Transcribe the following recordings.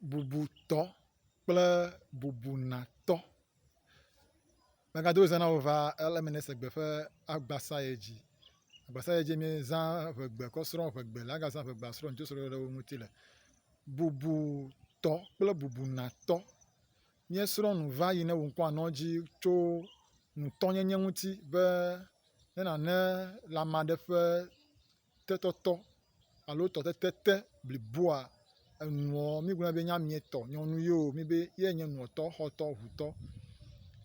bubutɔ kple bubunatɔ. Megado ŋusẽ na wò va ale mele se gbe ƒe agbasa yi dzi. Agbasa yi dzi mi zã ŋegbe kɔ srɔ̃ ŋegbe le aga zã ŋegbe asrɔ̃ ŋutsɔ srɔ̃ɖeɖe le wo ŋuti le. Bubutɔ kple bubunatɔ. Míesrɔ̃ nu va yi ne wò ŋkɔ anɔ edzi tso ŋutɔnyenye ŋuti be ne nàne lãme aɖe ƒe. tetɔtɔ alo tɔtete te bliboa, enuɔ mígblɔɛ be nyamie tɔ, nyɔnu yio mi be yɛ nye nuɔtɔ, xɔtɔ, ʋutɔ.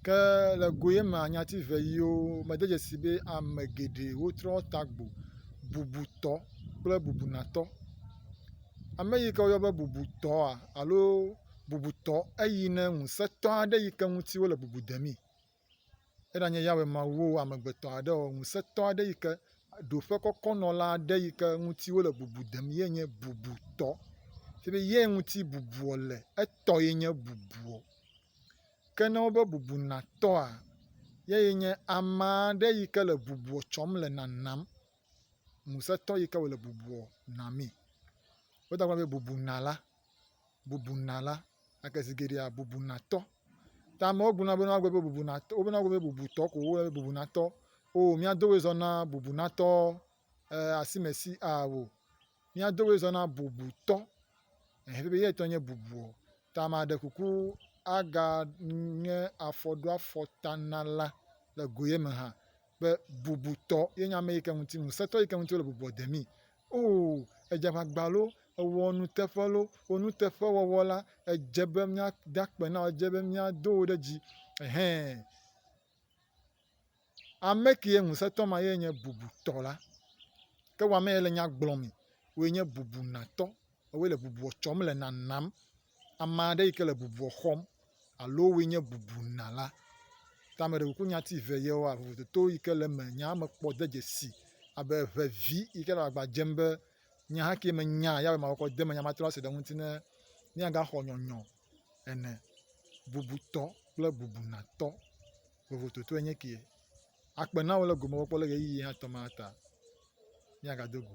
Ke le go ye mea nyati ve yio me de dzesi be ame geɖe wo trɔ ta gbo, bubutɔ kple bubunatɔ. Ame yi ke wo yɔ be bubutɔa alo bubutɔ eyi ne ŋusetɔ aɖe yi ke ŋuti wo le bubu demee. Eɖanye Yahweh Mawu wò amegbetɔ aɖe ɔ, ŋusẽtɔ aɖe yi ke ɖo ƒe kɔkɔ nɔ la aɖe yi ke ŋuti wole bubu dem ye nye bubutɔ. Fie be ye ŋuti bubuɔ le, etɔ ye nye bubuɔ. Ke ne wobe bubu natɔa, ye ye nye ame aɖe yi ke le bubuɔ tsɔm le nanam. Ŋusẽtɔ yi ke wòle bubuɔ namee. Wodagblɔa be bubunala. bubuna la, gake zi geɖea bubunatɔ. Ta amewo gblɔna be ne woagblɔ be bubunatɔ wobena wogblɔ be bubutɔ ko wole be bubunatɔ. O mía dowoe zɔ na bubunatɔ e asimesi a o. Mía dowoe zɔ na bubutɔ ehe be yetɔ nye bubuɔ. Ta ame aɖe kuku aga nye afɔɖoafɔtanala le goyeme hã be bubutɔ ye nye ame yi ke ŋuti ŋusẽtɔ yi ke ŋuti wole bubua demee Oo, edze aʋagba loo, ewɔ nuteƒe loo, wò nuteƒewɔwɔ la, edze be míada akpe na wò, edze be míado wò ɖe dzi. Hẽ, ame kee ŋusẽtɔ ma ye nye bubutɔ la. Ke wò amee le nya gblɔm, wòe nye bubunatɔ. woe le bubua tsɔm le nanam. Ame aɖe yi ke le bubua xɔm alo woe nye bubunala. Ta ame ɖewo ku nya ti ve yewoa vovototo yi ke le eme nya me kpɔ de dzesi abe ŋevi yi ke le agba dzem be nya ke menya ya be makɔkɔ de eme nya matrɔ ase ɖe eŋuti ne míagaxɔ nyɔnyrɔ ene, bubutɔ kple bubunatɔ vovototoe nye ke. Akpe na wò le gome kpɔkpɔ le ʋeyiʋi ya tɔ ma ta. Míagado go.